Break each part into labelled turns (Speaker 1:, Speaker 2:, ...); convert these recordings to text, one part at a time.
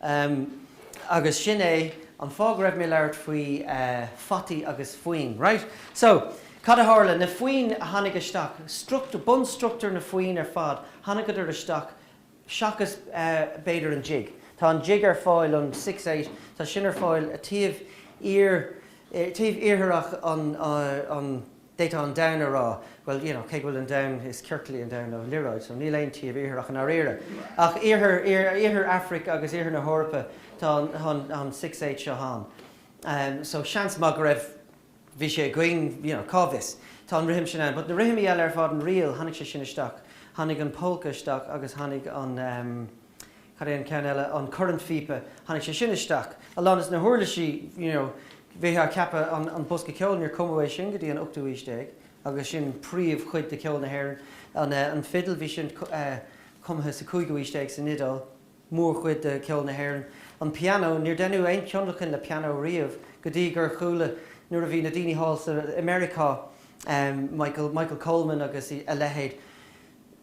Speaker 1: Em, agus sin é an fáth go raibh mé ag labhairt faoi, eh, fataí agus foinn, right. So, cad a tharla, na foinn a tháinig isteach, struchtúr, bunstruchtúr na foinn ar fad, tháinigeadar isteach seachas b'fhéidir an jig. Tá an jig ar fáil an six eight, tá sin ar fáil taobh thiar, taobh iartharach an, an, d'fhéadfá an domhan a rá, bhuel, you know, cé go bhfuil an domhan, is ciorcal é an domhan nó liathróid, so níl aon taobh iartharach i ndáiríre. Ach iarthar, iarthar Aifric agus iarthar na hEorpa tá an, an six eight seo ann. So seans maith go raibh. bhí sé againn, you know, cá bhfios, tá an rithim sin ann, but na rithimí eile ar fad, an ríl, tháinig sé sin isteach, tháinig an pólca isteach agus tháinig an, em, cad é an ceann eile, an cornphíopa, tháinig sé sin isteach, a lán des na huirlisí, you know, bhítheá ag ceapadh an, an bosca ceoil, níor cumadh é sin go dtí an ochtú haois déag agus sin príomhchuid de cheol na hÉireann, an eh, an fidil, bhí sin, eh, cumtha sa cúigiú haois déag san Iodáil. mórchuid de cheol na hÉireann. An pianó, níor deineadh aon tionlacan le pianó riamh go dtí gur chuala, nuair a bhí na daoine thall sa, i Meiriceá, Michael, Michael Coleman agus a leithéid,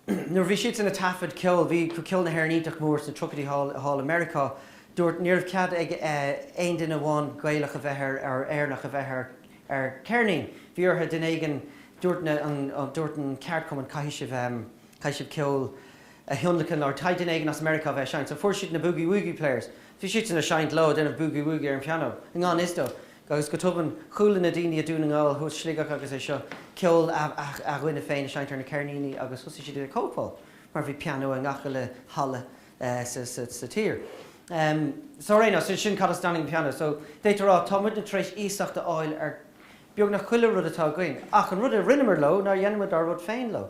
Speaker 1: nuair a bhí siadsan ag taifead ceol, bhí ceol na hÉireann iontach mór sna tríochaidí thall, thall i Meiriceá, dúirt, ní raibh cead ag aon duine amháin Gaelach a bheith ar, or Éireannach a bheith ar, ar ceirnín, bhí orthu, duine éigin, dúirt na, an, dúirt an ceardchumann, caithfidh sibh, caithfidh sibh ceol, a thionlacan nó ar a laghad duine éigin as Meiriceá a bheith ag seinnt so fuair siad na Boogie Woogie Players, bhí siadsan ag seinnt leo, ag déanamh boogie woogie ar an pianó, i ngan fhios dó, agus go tobann chuala na daoine i Dún na nGall agus Sligeach agus iad seo ceol a ndaoine féin ag seinnt ar na ceirníní agus thosaigh siad ag cóipeáil mar bhí pianó i ngach uile halla sa tír. So ar aon nós, sin sin cad as a dtáinig an pianó so d'fhéadfá a rá tá muidne tar éis iasacht a fháil ar beagnach chuile rud atá againn ach an rud a rinneamar leo nár dhein muid ár rud féin leo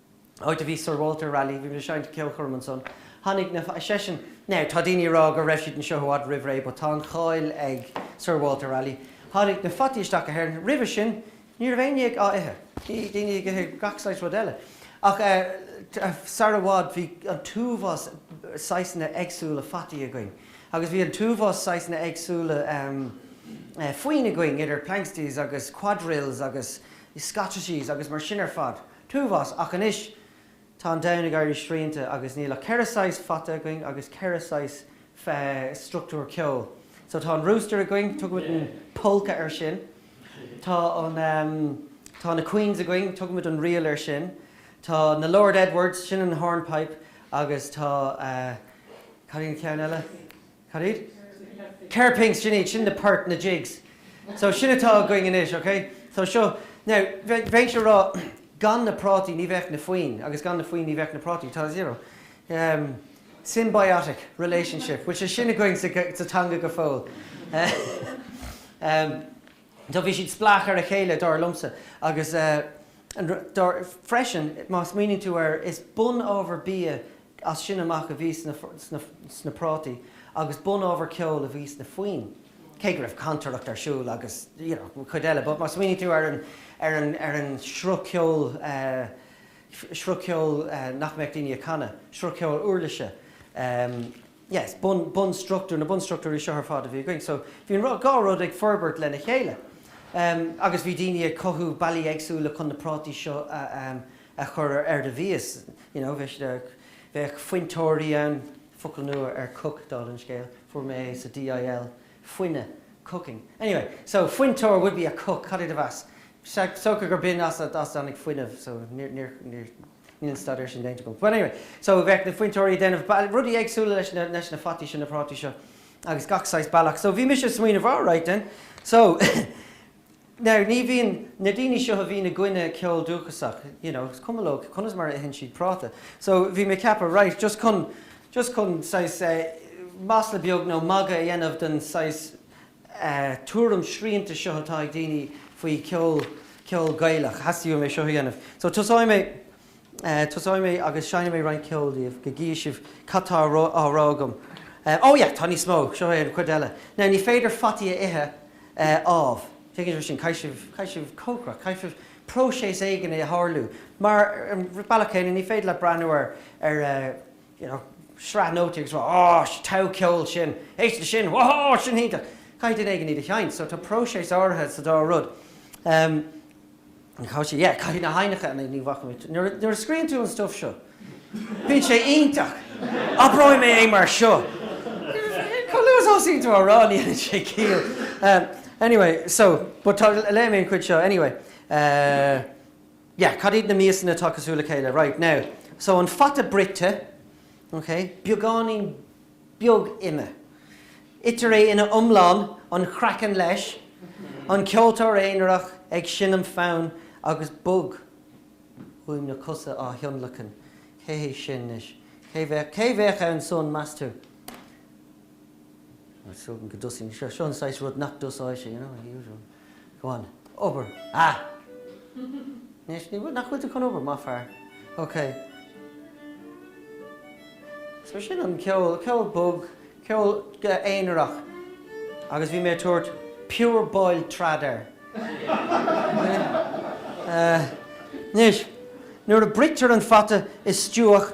Speaker 1: áit a bhí Sir Walter Raleigh, bhí mé ag seinnt i gceolchoirm ansan, tháinig na, ar seisean, now tá daoine ag rá go raibh siad anseo i bhfad roimh ré but tá an cháil ag Sir Walter Raleigh, tháinig na fataí isteach go hÉirinn, roimhe sin ní raibh éinne á ithe, bhí daoine ag ithe gach saghas rud eile ach eh sar i bhfad bhí an t-uafás saghasanna éagsúla fataí againn agus bhí an t-uafás saghasanna éagsúla ehm foinn againn idir Planxties agus Quadrilles agus Scottishes agus mar sin ar fad. t-uafás, ach anois tá an domhan ag éirí srianta agus níl ach ceithre saghas fata againn agus ceithre saghas struchtúr ceoil. So tá an rooster againn, tugaimid an polka air sin, tá an, tá na queens againn, tugaimid an ríl air sin, tá na Lord Edwards, sin an hornpipe agus tá, cad é an ceann eile? cad iad? Kerr pinks, sin iad, sin na poirt, na jigs. So sin atá againn anois, ok? So seo, now, bheinnse a' rá gan na prátaí ní bheadh na foinn agus gan na foinn ní bheadh na prátaí, tá, you know, ehm, symbiotic relationship, bhfuil sé sin againn sa teanga go fóill? Ehm. Tá, bhí siad spleách ar a chéile, dar liomsa, agus dar, freisin, má smaoiníonn tú air, is bunábhar bia as sin amach a bhí sna prátaí agus bunábhar ceoil a bhí sna foinn, cé go raibh cantaireacht ar siúl agus, you know, an chuid eile, but má smaoiníonn tú ar an, ar an, ar an sruth ceoil, sruth ceoil nach mbeadh daoine a' canadh, sruth ceoil uirlise, yes, bun, bunstruchtúr, na bunstruchtúirí seo ar fad a bhí againn. So, bhí an rud, dhá rud ag forbairt lena chéile. Ehm, agus bhí daoine ag cothú bealaí éagsúla chun na prátaí seo a, ehm, a chur ar, ar do mhias, you know, bheadh siad ar, bheadh fuinteoirí ann, focal nua ar cook, dála an scéil, fuair mé é sa DIL, fuine, cooking. Anyway, so, fuinteoir would be a cook, cad é do mheas? Sea, is dócha gurb in as a, as a dtáinig fuinneamh, so, níor, níor, níor, Níl an staidéar sin déanta agam. Bhuel, anyway, so bheadh na fuinteoirí ag déanamh rudaí éagsúla leis na, leis na fataí seo, na prátaí seo agus gach saghas bealach. So bhí mise ag smaoineamh, right then, so now ní bhíonn, na daoine seo a bhíonn i gcoinne ceol dúchasach, you know, is cuma leo conas mar a itheann siad práta. So bhí mé ag ceapadh, right, just chun, just chun saghas eh masla beag nó magadh a dhéanamh den saghas, tuairim srianta seo atá ag daoine faoi cheol, ceol Gaelach. Theastaigh uaim é seo a dhéanamh. So tosóidh mé, tosóidh mé agus seinnfidh mé roinnt ceoil daoibh go gcífidh sibh cad tá á rá agam. Oh yeah, tá níos mó, seo é an chuid eile. Now ní féidir fataí a ithe, ámh. Tuigeann sibh é sin? Caithfidh sibh, caithfidh sibh cócaireacht, caithfidh próiseas éigin é a tharlú. Mar, ar an bhealach céanna, ní féidir leat breathnú ar, ar. you know, sraith nótaí agus rá, Á, sea, tá an ceol sin, éist le sin, Whoa, sin iontach! Caithfidh duine éigin iad a sheinnt. So tá próiseas áirithe sa dá rud. Em, cá sé, yeah, caithfidh na haibhneacha, nah, ní bhacfaidh mé, nuair a, nuair a scríonn tú an stuif seo, bíonn sé iontach! Abróidh mé é mar seo! Chomh luath is a thosaíonn tú á rá, ní dhéanann sé ciall. Em, anyway, so, but tá, léifidh mé an chuid seo, anyway. Eh. yeah, cad iad na miasanna atá cosúil le chéile, right, now, so an fata bruite, ok, beagáinín beag ime, itear é ina iomlán, an craiceann leis, an ceoltóir aonarach ag seinm fonn agus bogfhuaim na cosa á thionlacan, cé hé sin anois, cé bheadh, cé bheadh ansan, meas tú? Well, seo an saghas rud nach dtosóidh sé, you know, the usual. Go on, obair! Ah! Anois, ní bhfuil, nach bhfuil tú chun obair, maith fear. Ok. So sin an ceol, ceol bog, ceol aonarach agus bhí mé ag tabhairt Pure Boiled Trad air. Anois, nuair a bruitear an fata i stobhach,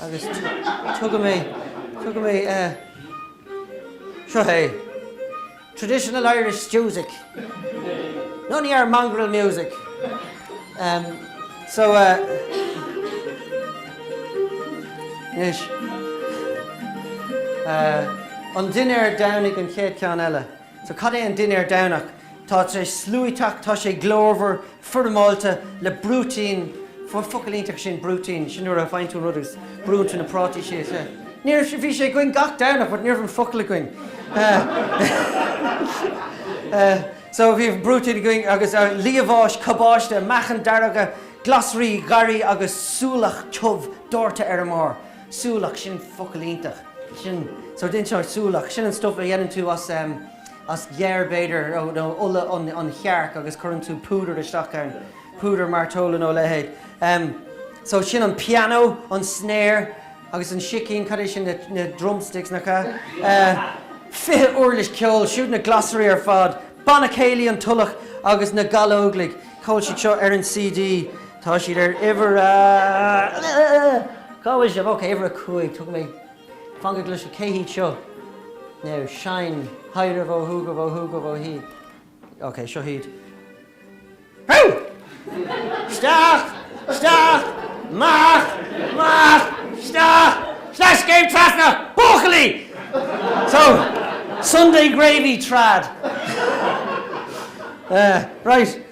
Speaker 1: Agus tugann mé, tugann mé. Seo é, Traditional Irish Stews-ic, none of your mongrel music! So, anois, an dinnéar Domhnaigh an chéad ceann eile. So cad é an dinnéar Domhnach? Tá sé sluaiteach, tá sé glórmhar, foirmeálta, le brúitín, focal iontach sin brúitín, sin nuair a faigheann tú an rud agus brúnn tú na prátaí síos é. Níor, bhí sé againn gach Domhnach but ní raibh an focal againn. So bhí brúitín againn agus liamháis, cabáiste, meacain dearga, glasraí, garraí agus súlach tiubh dóirte ar a mbarr. Súlach, sin focal iontach. Sin sort inseoidh súlach. Sin an stuff a dhéanann tú as as geir b'fhéidir nó ola an chearc agus cuireann tú púdar isteach ann. Púdar mairteola nó a leithéid. So sin an piano, an snare agus an sicín, cad é sin na drumsticks nach ea? Fiche uirlis ceoil, siúd na glasraí ar fad, banna céilí an Tulach agus na Gallóglaigh, cá bhfuil siad seo ar an CD. Tá siad ar uimhir a. Cá bhfuil sibh? Ok, uimhir a cúig. Tugann mé. Fan go gcloise. Cé hiad seo? Now seinn. Haire bhó hú go bhó hú go bhó hí. Ok, seo hiad. Hú! Steach! Steach! Mach! Mach! Steach! Steach is céim trasna! Buachailí! So, Sunday gravy trad. Uh, right.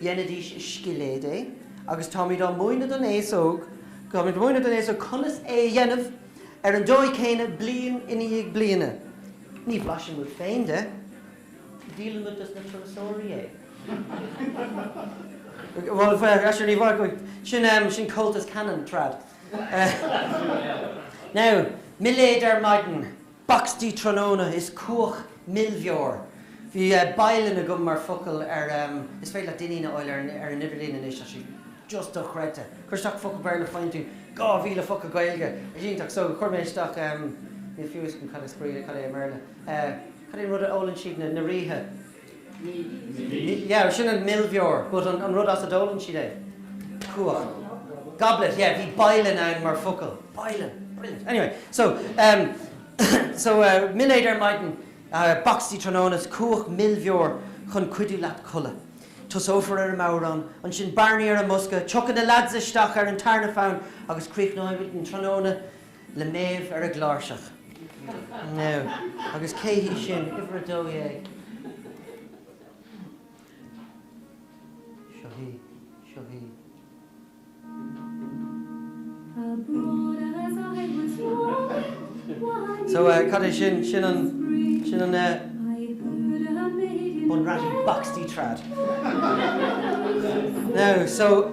Speaker 1: Dhéanaidís scilléad é agus táimid á mhúineadh don aos óg, táimid ag múineadh don aos óg conas é a dhéanamh ar an dóigh chéanna bliain i ndiaidh bliana. Ní bhlaiseann muid féin de, díolann muid dos na turasóirí é. Sin Comhaltas Canon, trad. Now, milléad ar maidin. Bacstaí tráthnóna is cuach milbheoir. Bhí bialann agam mar focal ar Is féidir leat Dinneen a fháil ar an idirlíon anois ach sé just dochreidte. Cuir isteach focal Béarla Faigheann tú 2000 focal Gaeilge. Is iontach so chuir mé isteach Níl a fhios agam cad is Gaeilge cad é i mBéarla Cad é an rud a ólann siad na ríthe? yeah, sin an milbheoir, but an rud as a d'ólann siad é, cuach, goblet, yeah, bhí boiling ann mar focal, boiling, brilliant, anyway, so, em, so, milléad ar maidin, bacstaí tráthnóna is cuach milbheoir chun cuidiú leat codladh. Tosófar ar an mbodhrán, ansin Barney ar an mbosca, tiocfaidh na leaids isteach ar an tarna fonn agus críochnóidh muid an tráthnóna le Méabh ar an gcláirseach. Now, agus cé hí sin, uimhir a dó dhéag? Seo hí. Seo hí. So, cad é sin? Sin an, sin an eh, Bun Raite Bacstaí Trad. Now, so.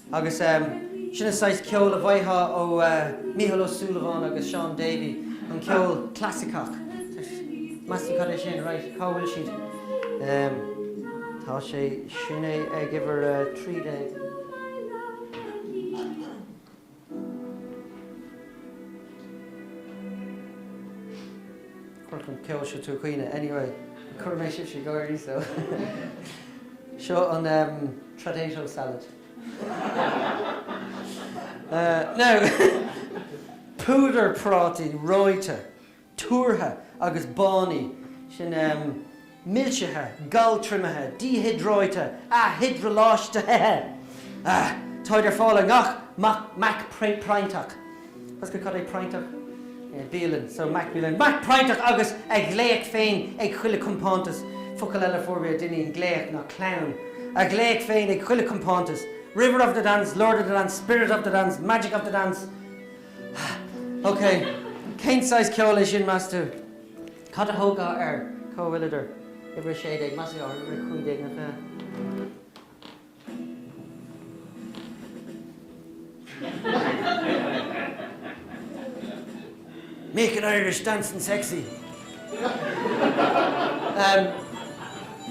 Speaker 1: Agus sin an saghas ceoil a bhfaightheá ó Mícheál Ó Súilleabháin agus Shaun Davey, an ceol clasaiceach. Meas tú cad é sin? Raight, cá bhfuil siad? Tá sé, sin é ag uimhir a trí déag. Chuirfeadh an ceol seo tú ag caoineadh anyway. Chuir mé sibhse ag gáirí so seo an tradato salad. Now, púdar prátaí reoite, tuartha agus bánaithe, sin. milsithe, galtriomaithe, díhiodráite, ath-hiodroláistitheithe, Táid ar fáil i ngach mac proinnteach, That's good Cad é proinnteach? Yeah, bialann, so mac bialann, mac proinnteach agus a ghlaoch féin ag chuile chompántas, Focal eile fuair mé ó dhuine, glaoch nó clann, A ghlaoch féin ag chuile chompántas, river of the dance, lord of the dance, spirit of the dance, magic of the dance, OK, cén saghas ceoil é sin, meas tú? Cad a thabharfá air? Cá bhfuileadar? Uimhir 16, meas tú, ar uimhir 15. Making Irish dancing sexy.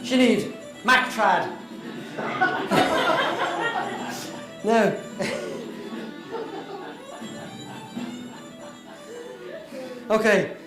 Speaker 1: Sin iad, Mac Trad. Now. OK.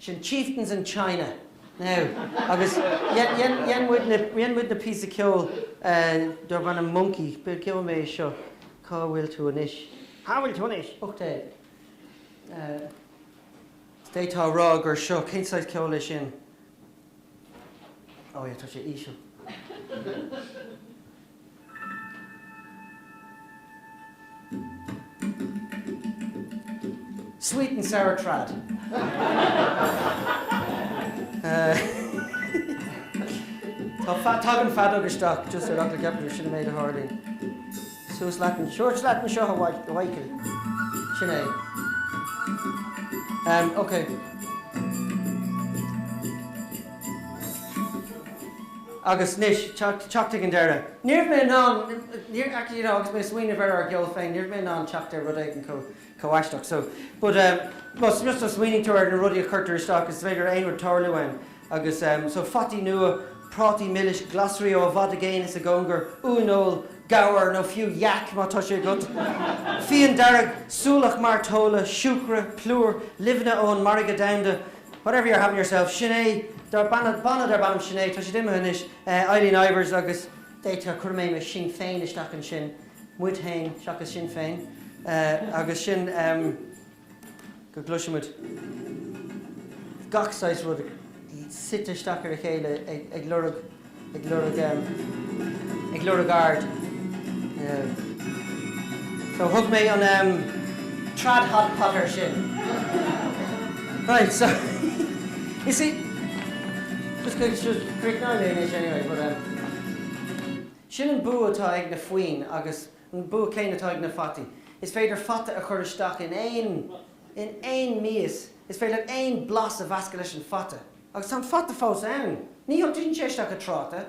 Speaker 1: Sin Chieftains in China, now, agus dhein muidne píosa ceoil darb ainm Monkey, but cá bhfuil mé seo, Cá bhfuil tú anois? Cá bhfuil tú
Speaker 2: anois? Uch
Speaker 1: Dé! Is d'fhéadfá a rá gur seo, cén saghas ceoil é sin? Ó yeah, tá sé íseal. Sweet and sour trad. Tagann feadóg isteach just ar fhocal ceapaire, sin an méid a tharlaíonn. Suas leat an, suas leat anseo a Mhaidhcil. Sin é. Em, ok. Agus anois, teacht ag an deireadh, ní raibh mé in ann, you know, agus mé ag smaoineamh ar ár gceol féin, ní raibh mé in ann teacht ar rud éigin chomh aisteach so, but ehm, más just má smaoiníonn tú ar na rudaí a chuirtear isteach, is féidir aon rud tarlú ann agus ehm, so fataí nua, prátaí milis, glasraí ó i bhfad i gcéin is i gcóngar, uaineoil, gabhar nó fiú yak má tá sé agat, fíon dearg, súlach mairteola, siúcra, plúr, luibheanna ón margadh domhanda, Whatever you're having yourself, sin é dar banna, banna darb ainm Sin É, tá siad imithe anois, Eileen Ivers agus d'fhéadfá, chuir mé mé sinn féin isteach ansin, muid fhéin seachas Sinn Féin, agus sin go gcloisimid gach saghas rud suite isteach ar a chéile ag lorg. ag lorg em. ag lorg aird em. so thug mé an em. trad hot pot air sin. Right so you see just going to críochnóidh mé anois anyway but em sin an bua atá ag na foinn agus an bua céanna atá ag na fataí. Is féidir fata a chur isteach in aon in aon mias, is féidir aon blas a mheascadh leis an fata. Agus tá an fata fós ann. Ní thiontaíonn sé isteach ag tráta.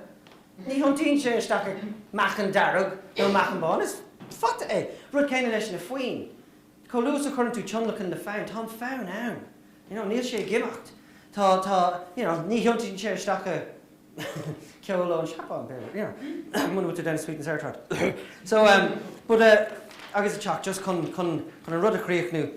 Speaker 1: Ní thiontaíonn sé isteach ag meacan dearg nó meacan bán. Is fata é. Rud céanna leis na foinn. Chomh luath is a chuireann tú tionlacan le fonn, tá an fonn ann. You know, níl sé ag imeacht. Tá, tá, you know, ní thiontaíonn sé isteach ag ceol ón Seapáin, you know, muna bhfuil tú ag déanamh sweet and sour trad. So, em, but eh, agus ag teacht just chun, chun, chun an rud a chríochnú,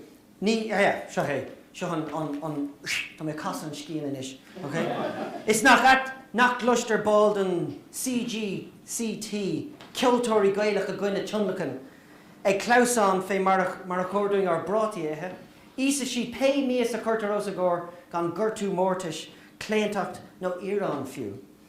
Speaker 1: Ní hea, seo é, seo an, an, an, sh, tá mé ag casadh an scian anois, ok. Is nach ait nach gcloistear ball den CGCT, ceoltóirí Gaelach i gcoinne tionlacain, ag clamhsán fé mar a, mar a chóir dúinn ár bprátaí a ithe. Íosfaidh siad pé mias a chuirtear os a gcomhair gan gortú mórtais, claontacht nó íoróin fiú.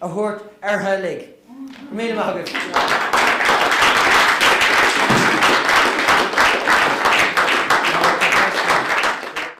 Speaker 1: a thabhairt orthu uilig. Míle maith agaibh.